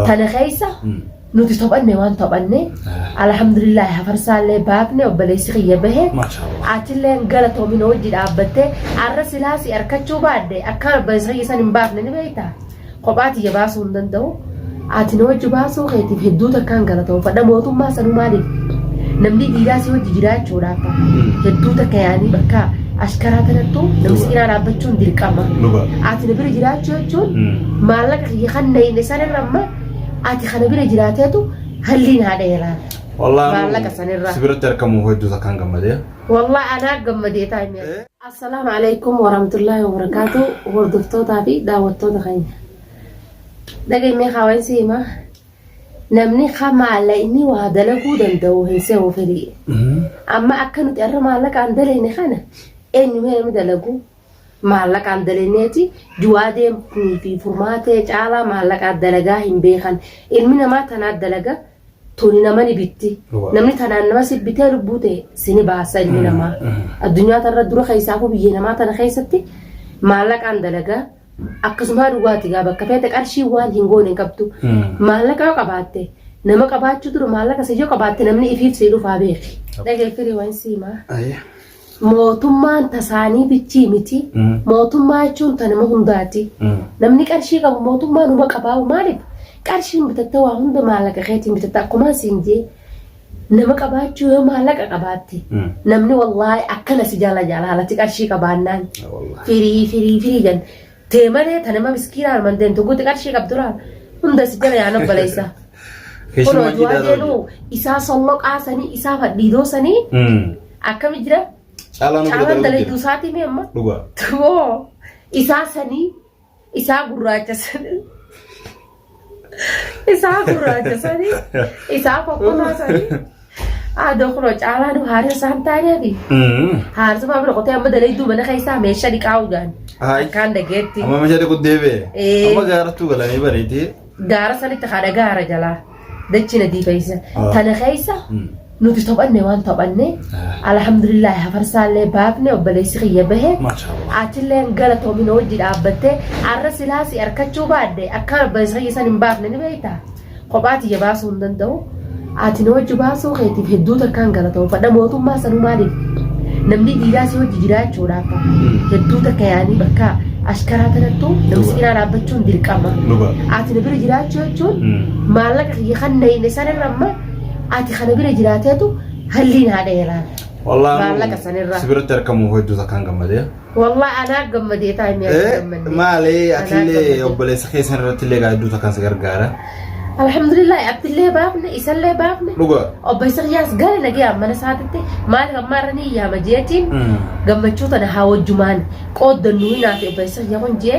Tana keessa nuti taphanne waan taphanne alhamdulillahi hafarsaallee baafne obboleessi kiyya bahe Maashaallah. atillee galatoomin hojii dhaabbatte arra silaasi arkachuu baadde akkaan obboleessi kiyya san hin baafne ni beekta kophaa tiyya baasuu hin danda'u ati na hojii baasuu keetiif hedduu takkaan galatoomfadha mootummaa sanuu maaliif namni dhiiraa si hojii jiraachuudhaaf hedduu takka yaanii bakka ashkaraa tanattu namni si cinaa dhaabbachuun dirqama Dhugaa. ati na bira jiraachuu jechuun Mm. maallaqa kiyya kan na hidhe sanirra amma ati kana bira jiraateetu halliin haadha heeraa Wallaan maallaqa sanirraa si biratti argamuuf hedduu takkaan gammadee. wallah anaa gammadee taa'imee assalaamu alaikum warahmatullaahi wabarakaatu hordoftootaa fi daawwattoota keenya dhagaimee haawaan si himaa namni ka maallaqni waa dalaguu danda'u hin se'u firii amma akka nuti arra maallaqaan dalayne kana eenyumee namni dalaguu maallaqaan dalanneeti du'aa deemnii fi furmaatee caalaa maallaqaa dalagaa hin beekan ilmi namaa tanaa dalaga tuni nama ni bitti Waa. namni tanaan nama si bitee lubbuu ta'e sini baasa ilmi namaa addunyaa tanarra dura keessaafuu biyya namaa tana keessatti maallaqaan dalagaa akkasumaa dhugaati gaa bakka feete qarshii waan hin goone hin qabdu maallaqa yoo qabaatte nama qabaachuu dura maallaqa si yoo qabaatte namni ifiif si dhufaa beeki dhageeffiri waan siimaa Ayya. Mootummaan tasaanii bichii miti. Mootummaa jechuun ta nama hundaati. Namni qarshii qabu mootummaa numa qabaa'u maaliif qarshiin bitatta waa hunda maallaqa keetiin bitatta akkumaan siin jee nama qabaachuu yoo maallaqa qabaatte namni wallaahi akkana si jala jaalaalati qarshii qabaannaan firii firii firii jan tee malee ta nama miskiina arman deemtu guuti qarshii qabdura hunda si jala yaana baleessa. Kunoo Keessumaa du'aa jiidhaa deenu ta'u. isaa solloqaa sanii isaa fadhiidoo sanii akkami jira Caalaa nu caalaan dalayduu jira. isaatii mee amma Dhugaa. tumoo isaa sanii isaa gurraacha sanii Isaa gurraacha sanii isaa kokkomaa sanii haadha kuro caalaa nu haadha isaan taaneefi haarsuma bira qotee amma dalayduu mana keessaa meeshaa dhiqaa ugaan akkaan dhageetti Amma meeshaa dhiquu deebi'e. Ee. Amma gaarattuu galanii bareedee. gaara sanitti haadha gaara jalaa dachina diifaysa Ah. tana keessa nuti taphanne waan taphanne alhamdulillahi hafarsaallee baafne obboleessi kiyya bahe achillee galatoomi na wajji dhaabbatte arra silaa si arkachuu baadde akkaan obboleessi kiyya san hin baafne ni beekta kophaa tiyya baasuu hin danda'u ati na wajji baasuu keetiif hedduu takkaan galatoomfadha mootummaa sanuu maaliif namni dhiiraa si wajji jiraachuudhaaf hedduu takka yaanii bakka ashkaraa tanattu namni sibiilaa dhaabbachuun dirqama ati na bira jiraachuu jechuun maallaqa kiyya kan na hin isaanirra amma Ati kana bira jiraateetu halliin haadha yeraan. Wallaan Maallaqa sanirraa. si biratti argamuuf hedduu takkaan gammadee. Wallah anaa gammadee taa inni akka Eh, gammadne. Maali Anaa atillee gammadee. obboleessa keessan irratti illee hedduu takkaan si gargaara. Alhamdulillah abdillee baafne isallee baafne. Dhugaa. Obbo Isaqyaas gara nagee mana isaatitti maaliif ammaa irra ni yaama jeetiin Mm. gammachuu tana haa wajjumaan qooddannu hinaaf obbo Isaqyaa kun jee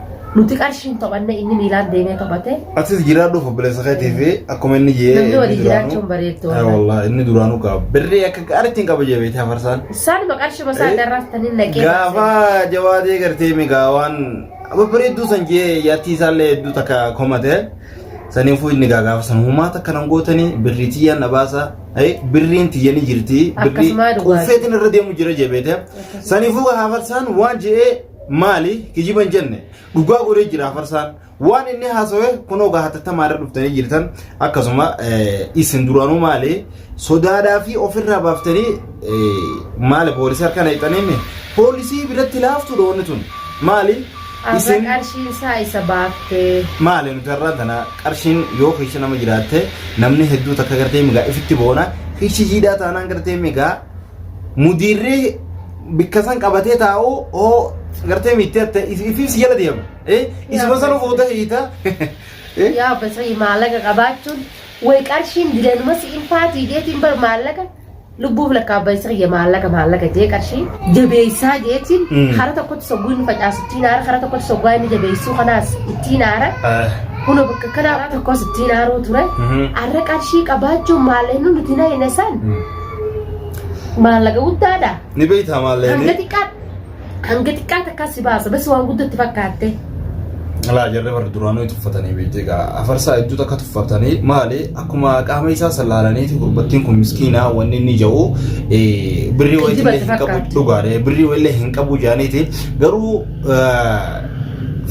Nuti qarshiin taphanne inni miilaan deemee taphate. Atis jiraadhuuf obboleessa keetii fi akkuma inni jee Namni walii inni duraanuu- jiraachuun bareeddu Eh, wallahi. wallahi, inni duraanuu qaba. Birrii akka gaariitiin qaba jebeeti hafarsaan. Isaanuma qarshuma isaa Eh, darraftanii naqee Gaafa jawaadee gartee migaa waan babbareedduu san jee yaattii isaallee hedduu takka komate saniifuu inni gaa gaafa san humaa takka nan gootanii birrii tiyyaan na baasa Eh, birriin tiyyanii jirti birrii Akkasumaa dhugaa. quuffeetiin irra deemu jira jebeete saniifuu hafarsaan waan je'ee Maali kijiba hin jenne dhugaa godhee jira farsaan waan inni haasawe kunoo gaa hatattamaa irra dhuftanii jirtan akkasuma isin duraanuu maali sodaadhaa fi ofirraa baaftanii maali poolisii harka naqxanii poolisii biratti laaftuudha wanni tun maali Arra isin qarshiin isaa isa baaftee. maali nuti irraa tana qarshiin yoo kiisha nama jiraatte namni hedduu takka gartee migaa ifitti boona kiishi jiidhaa taanaan gartee migaa mudiirri bikka san qabatee taa'u hoo gartee miittee atta ifiin si jala deema. Isuma sana fuuta hiita. Yaa basayii maallaqa qabaachuun way qarshiin dilanuma si in faatii jeetiin bar maallaqa lubbuuf lakkaabba isa kiyya maallaqa maallaqa jee qarshii jabeessaa jeetiin hara tokkotti sogguu inni facaasu ittiin aara hara tokkotti soggaa inni jabeessuu kanaas ittiin aara. Kuno bakka kanaa tokkos ittiin aaruu ture. Arra qarshii qabaachuun maallaqa nuti na hin esan. Maallaqa guddaadha. Ni beektaa Hanga maallee xiqqaa hanga xiqqaa takkaa si baasa. Bas waan guddatti fakkaatte. laa jarri warri duraanuu itti uffatanii beektee gaa afarsaa hedduu takka tuffatanii maali akkuma qaama isaa sallaalaniiti gurbattiin kun miskiinaa wanni inni ja'u eh, birrii wayillee Kijibatti hin qabu fakkaatti. dhugaadha birrii wayillee hin qabu jaaniiti garuu eh,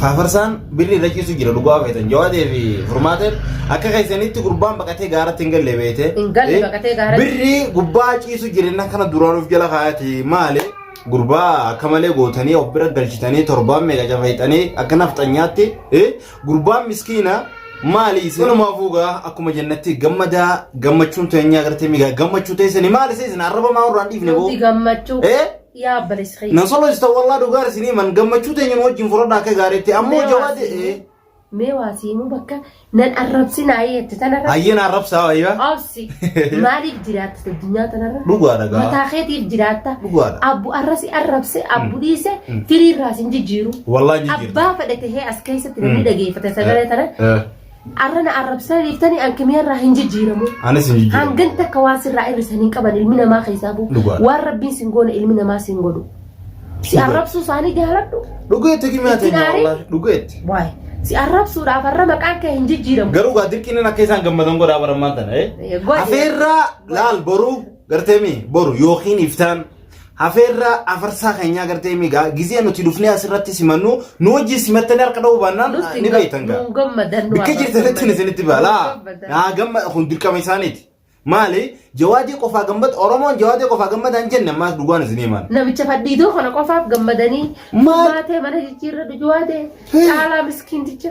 faafarsaan birri irra ciisu jira dhugaa feetan jawaadee fi furmaateen akka keessanitti gurbaan baqatee gaaratti hin galle beete Hin galle baqatee gaaratti. birri gubbaa ciisu jireenya kana duraan of jala kaayati maale gurbaa akka malee gootanii of bira galchitanii torbaan meeqa cafayxanii akka nafxanyaatti eh, gurbaan miskiina maali isin walumaa fuugaa akkuma jennatti gammadaa gammachuun teenyaa agartee migaa gammachuu teessanii maali isin arraba maa irraan dhiifne boo Nuti gammachuu. eh Yaa obboleessa kiyya. Nan solochita wallah dhugaa isinii man gammachuu teenya nu wajjin furadha akka gaariitti ammoo jawaade ee. Mee waa siimuu bakka nan arrabsin ayii jette tanarra. Hayyee na arrabsaa wayyaa. Obsi maaliif jiraatta addunyaa tanarra? Dhugaadha gaa. Mataa keetiif jiraatta. Dhugaadha. Abbu arrasi arrabse abbu dhiise firiirraa sin jijjiiru. Wallah hin jijjiirtu. Abbaa fedhe tahee as keessatti namni dhageeffate sagalee tana Eh. Arra na arrabsaa dhiiftanii an kimiyaarraa hin jijjiiramu. Anis hin jijjiiramu. Hangan takka waan sirraa irrisan hin qaban ilmi namaa keessaa bu'u. Dhugaadha. Waan rabbiin sin goone ilmi namaa sin godhu. Si arrabsuu isaanii jaaladhu. Dhugeetti kimiyaa Itti teenya naarii? wallahi dhugeetti. Waay. Si arrabsuudhaaf har'a maqaan kee hin jijjiiramu. Garuu gaa dirqiin akka isaan gammadan godhaa barammaan tana. Eh, godhe. Afeerraa laal boruu garteemi boru yookiin iftaan Hafeerraa afarsaa keenyaa gartee migaa gizee nuti dhufnee asirratti simannu nu wajjin simattanii harka dha'uu baannaan Nutti ni beektan gaa. nuu gammadan nu Bikka jirtanitti ni isinitti baalaa. Naa gamma kun dirqama isaaniiti. Maali jawaadii qofaa gammada Oromoon jawaadii qofaa gammada hin jenne ammaas dhugaan isinii maal. Namicha fadhiidoo kana qofaaf gammadanii Maal? maatee mana jijjiirra dujuwaatee caalaa miskiinticha.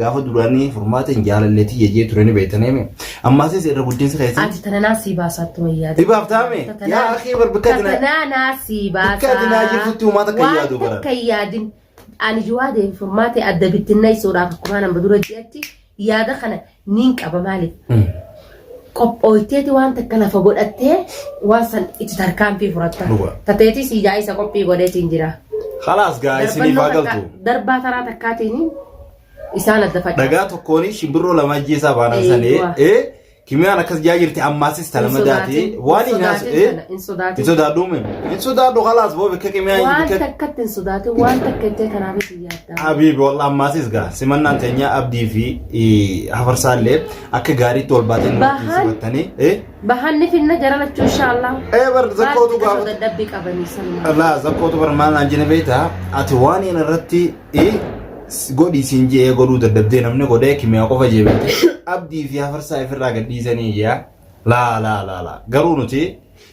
Gaafa duraanii furmaata hin jaalallee tiyya jee ture ni beektanii mi? Ammaasis irra guddinsi keessan. Ati tana naa sii baasaatti wayyaa. Ni baaftaa mi? Yaa akii bar bikka ati naa. Tatanaa naa sii baasaa. Bikka ati naa jirtutti uumaa takka hin yaadu bara. Waan takka hin yaadin. Ani jiwaa deemu furmaate adda bittinna isuudhaaf akkuma nama dura jeetti yaada kana niin qaba maaliif? qophooyteeti waan takka lafa godhattee waan san itti tarkaanfii furatta. Dhuga. Tateetii sii jaa isa qophii godheetiin jira. Khalaas gaa isiniif haa Darbannoo galtu. takka- darbaa taraa takkaatiin isaan adda facaasu. Dhagaa tokkoon shimbirroo lama ajjeesaa baanaan Ee, sanee. waa. Ee kimiyaan akkas jaa jirti ammaasis talama daatee. Waan hin haasu. Ee hin hin sodaatin. sodaadhu mee. Hin sodaadhu khalaas boo bakka kimiyaan Waan bakka takkatti hin sodaatin waan takka jettee kanaaf itti yaaddaa. Habiibi wallah ammaasis gaa simannaan teenyaa abdii fi eh, hafarsaallee Akka gaariitti wal baatee nu Bahaan. wajjin simattanii. Eh? Bahanni finna jara lachuu inshaallah. Eh bar zakkootu Baal- gaafata. Dadhabbii qabanii salmaa. Laa zakkootu bar maal naan jene beekta. Ati waan hin irratti eh, s- godhi siin jee godhuu dadhabdee namni godhee kimiyaa qofa jee beekte. Abdii fi hafarsaa ifirraa gadhiisanii yaa. Laa laa laa laa. Garuu nuti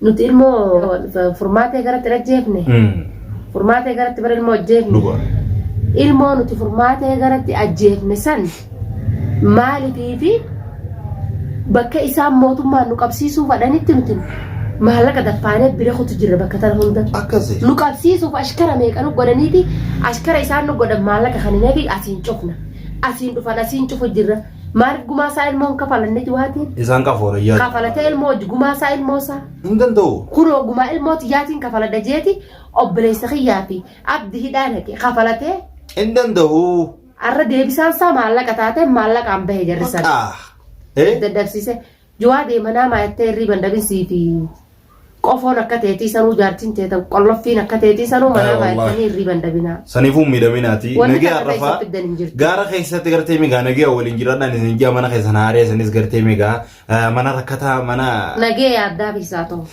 Nuti ilmoo furmaatee garatti ajjeefne. Furmaatee garatti bara ilmoo ajjeefne. Dhugaa. Ilmoo nuti furmaatee garatti ajjeefne san maalitii fi bakka isaan mootummaan nu qabsiisuu fadhanitti nuti maallaqa daffaanee bira kutu jirra bakka tana hunda. Akkasi. Nu qabsiisuuf ashkara meeqa nu godhaniiti ashkara isaan nu godhan maallaqa kan hin eegi asiin cufna. Asiin dhufan asiin cufu jirra. Maaliif gumaa isaa ilmoo hin kafalanne duwaatiin? Isaan qafoora iyyaa. Kafalatee ilmoo wajji gumaa isaa ilmoo isaa. Hin danda'u. Kunoo gumaa ilmoo tiyyaatiin kafaladha jeeti obboleessa kiyyaa fi abdi hidhaa naqe kafalatee Hin danda'u. arra deebisaan isaa maallaqa taatee maallaqaan bahe jarri sana. Haa. Eh? Dadhabsiise. Jawaa deema naamaa yattee irriiban dhabin siifi qofoon akka teetii sanuu jaartin teetan qolloffiin akka teetii sanuu Ay, manaamaa wallahi. yattanii irriiban dhabinaa. Sanifuun miidhaminaati. Wanni Nagee takka arrafaa. keessa fiddan hin jirtu. Gaara keessatti gartee migaa nagee waliin jiraadhaan isin jaa mana keessan haaree isinis gartee migaa eh, mana rakkataa mana Nagee yaaddaa fi isaa ta'u.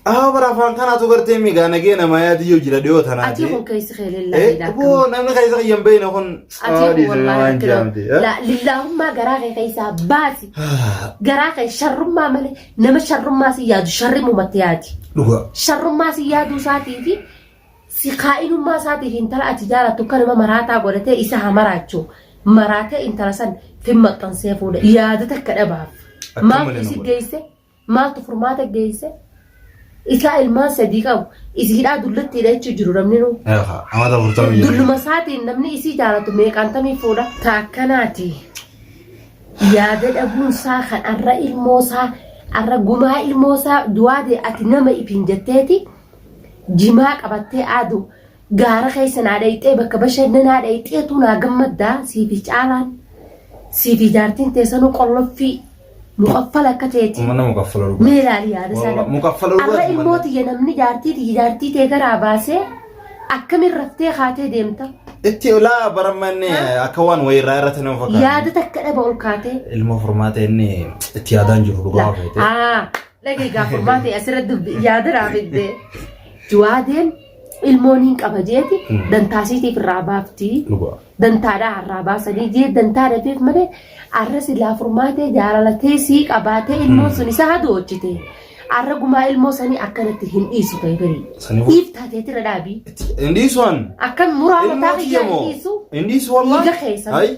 Ahaa bara afaan kanaatu gartee migaa nagee namaa yaadii yoo jira dhiyoo tanaa Atii kun keessi kee lillaa Eh, hidhaa boo akkam. namni keessa kiyyan beeyna kun Atii kun dhiisanii wallaahi waan akkana. jaamte. eh? La- Lillaahummaa garaa kee keessaa baasi. Ah, Garaa kee sharrummaa malee nama sharrummaa si yaadu sharrimumatti yaadi. Dhugaa. Sharrummaa si yaaduu isaatii fi si kaa'inummaa isaatiif intala ati jaalattu kan nama maraataa godhatee isa haa maraachu. Maraatee intala san fin maxxansee fuudha. Yaada takka dhabaaf. Akka Maaf malee na si godha. deesse? Maaltu furmaata geesse? Isaa ilmaan sadii qabu. Isi hidhaa dullittiidha jechuun jiru namni nuu. Eefa, amata afurtamii ja'a. Dulluma isaatiin namni isii jaalatu meeqaan tamii fuudha. Ta akkanaati. Yaada dhabuun isaa kan arra ilmoo isaa arra gumaa ilmoo isaa du'aa ta'e ati nama ifiin jetteeti jimaa qabattee aadu gaara keessa naa dhayxee bakka bashannanaa dhayxeetu naa gammaddaa siifi caalaan siifi jaartiin teessanuu qolloffii mukaffala akka teeti Mana mukaffala dhugaa. mee ilaali yaada isaa Wallah, mukaffala dhugaa arra ilmoo manni. tiyya namni jaartii tiyya jaartii tee garaa baasee akkamiin raftee kaatee deemta Itti laa barammanne akka waan wayirraa irratti nama fakkaata. yaada takka dhaba ol kaatee Ilma furmaata inni itti yaadaan jiru dhugaa feete. Ah, lagi gaafa maate asirra dubbi yaada raafidde. Juwaadeen ilmoon hin qaba jeeti Mm. dantaa isiitiif irraa baafti Dhugaa. dantaadhaa harraa baasanii jee dantaa dhabeef malee arra silaa furmaatee jaalalatee sii qabaatee ilmoon sun isa hadoochite arra gumaa ilmoo sanii akkanatti hin dhiisu ta'e barii Sanii booda. dhiif taateetira dhaabii Indiisuan. akkan muraa mataa Ilmoo kiyyaa kiyya moo? dhiisu Indiisu wallahi. Dhiiga keessa. Hai.